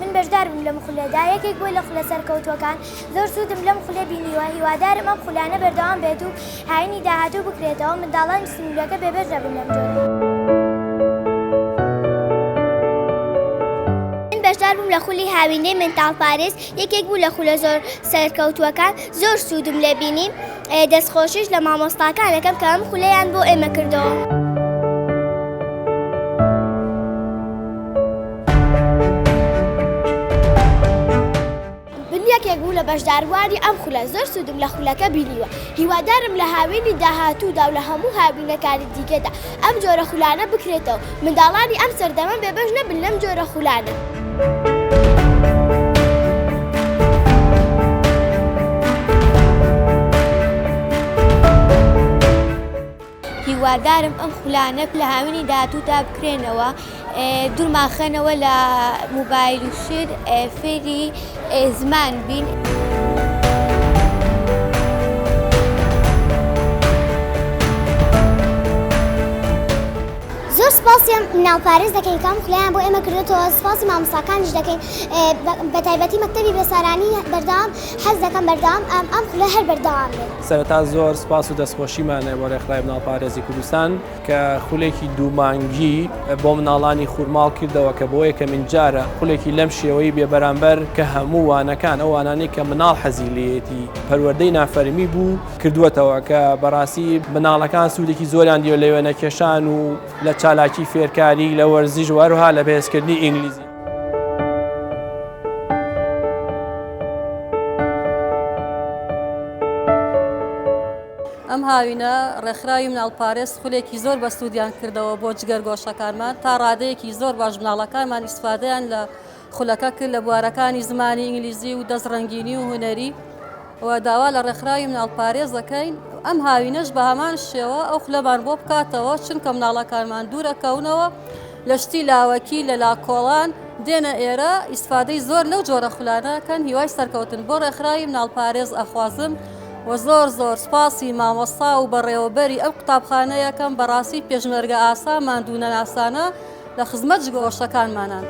من بەژدار بووم لەم خولەدا یەکێک بووە لە خولە سەرکەوتووەکان زۆر سوودم لەم خولە بینیوە هیوادارم ئەم خولانە بەردەوام بێت و هاینی داهاتوو بکرێتەوە منداڵانی سنوورەکە بێبەش نەبن لەم جۆرە. من بەژدار بووم لە خولی هاوینەی منداڵ پاریس یەکێک بوو لە خولە زۆر سەرکەوتووەکان زۆر سوودم لێ بینی. دەست خۆشیش لە مامۆستاکان ئەکەم کە ئەم خولەیان بۆ ئێمە کردەوە. من یەکێک بووم لە بەشداربووانی ئەم خولە، زۆر سوودم لە خولەکە بینیوە. هیوادارم لە هاوینی داهاتوودا و لە هەموو هاوینەکانی دیکەدا ئەم جۆرە خولانە بکرێتەوە. منداڵانی ئەم سەردەمە بێبەش نەبن لەم جۆرە خولانە. هیوادارم ئەم خولانە لە هاوینی داهاتوودا بکرێنەوە. دور ماخەنەوە لە موبایل و شت فێری زمان بین. سپاسیان ناوپارێز دەکەین کام خلیان بۆ ئێمە کردێتەوە سپاسی مامساکانیش دەکەین بە تایبەتی مەکتتەبی بێسارانی بەردام حەز دەکەم بەردام ئەم ئەم خولە هەر بەردەوام سەرتا زۆر سپاس و دەستخۆشیمانێ بۆ ڕێکخراوی مناڵپارێزی کوردستان. کە خولێکی دوو مانگی بۆ مناڵانی خورماڵ کردەوە کە بۆ یەکەمین جارە خولێکی لەم شێوەی بێ بەرامبەر کە هەموو وانەکان ئەو وانانەی کە مناڵ حەزی لێیەتی پەروەردەی نافەرمی بوو کردووەتەوە کە بەڕاستی مناڵەکان سوودێکی زۆریان دیوە لە وێنە کێشان و لە چالاکی فێرکاری لە وەرزیش و هەروەها لە بەهێز کردنی ئینگلیزی. ئەم هاوینە ڕێکخراوی مناڵپارێز خولێکی زۆر بەسوودیان کردەوە بۆ جگەرگۆشەکانمان تا ڕادەیەکی زۆر باش مناڵەکانمان ئیسفادەیان لە خولەکە کرد لە بوارەکانی زمانی ئینگلیزی و دەست ڕەنگینی و هوەری و داوا لە ڕێکخراوی مناڵپارێز دەکەین ئەم هاوینەش بە هەمان شێوە ئەو خولەمان بۆ بکاتەوە چونکە مناڵەکانمان دوورەکەونەوە لە شتی لاوەکی لە لاکۆڵان دێنە ئێرە ئیسفادەی زۆر لەو جۆرە خولانەکەن هیوای سەرکەوتن بۆ ڕێکخراوی مناڵپارێز ئەخوازم وە زۆر زۆر سوپاسی مامۆستا و بەڕێوەبەری ئەم قوتابخانەیەکەم بەڕاستی پێشمەرگە ئاسا ماندوو نەناسانە لە خزمەت جگۆشتەکانمانان.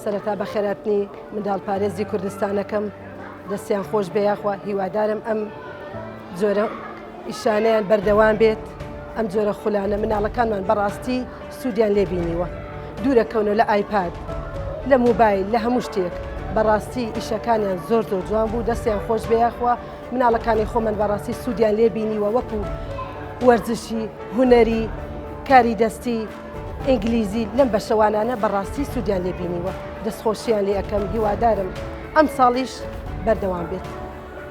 سەرەتا بەخێراتنی منداڵ پارێزی کوردستانەکەم دەستیان خۆش بێ یاخوا هیوادارم ئەم جۆرە ئیشانەیان بەردەوام بێت ئەم جۆرە خولانە مناڵەکانمان بەڕاستی سوودیان لێبینیوە دوورە کەونە لە ئایپاد لە موبایل لە هەموو شتێک بەڕاستی ئیشەکانیان زۆر زۆر جوان بوو دەستیان خۆش بێخوا مناڵەکانی خۆمن بەڕاستی سوودیان لێبینیوە وەکو وەرزشی هوەری کاری دەستی ئینگلیزی لەم بەشەوانانە بەڕاستی سوودیان لێبینیوە دەستخۆشییان لێ ئەەکەم هیوادارم ئەم ساڵیش بەردەوام بێت.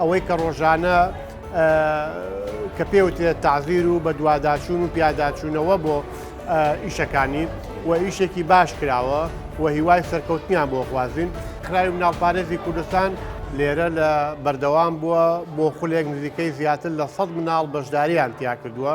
ئەوەی کە ڕۆژانە کە پێوترێت تازیر و بە دوواداچوون و پیاداچوونەوە بۆ ئیشەکانی و ئیشێکی باش کراوە و هیوای سەرکەوتنیان بۆ خوازین خراوی مناڵپارێزی کوردستان لێرە لە بەردەوام بووە بۆ خولێک نزیکەی زیاتر لە 100 مناڵ بەشداریان تیا کردووە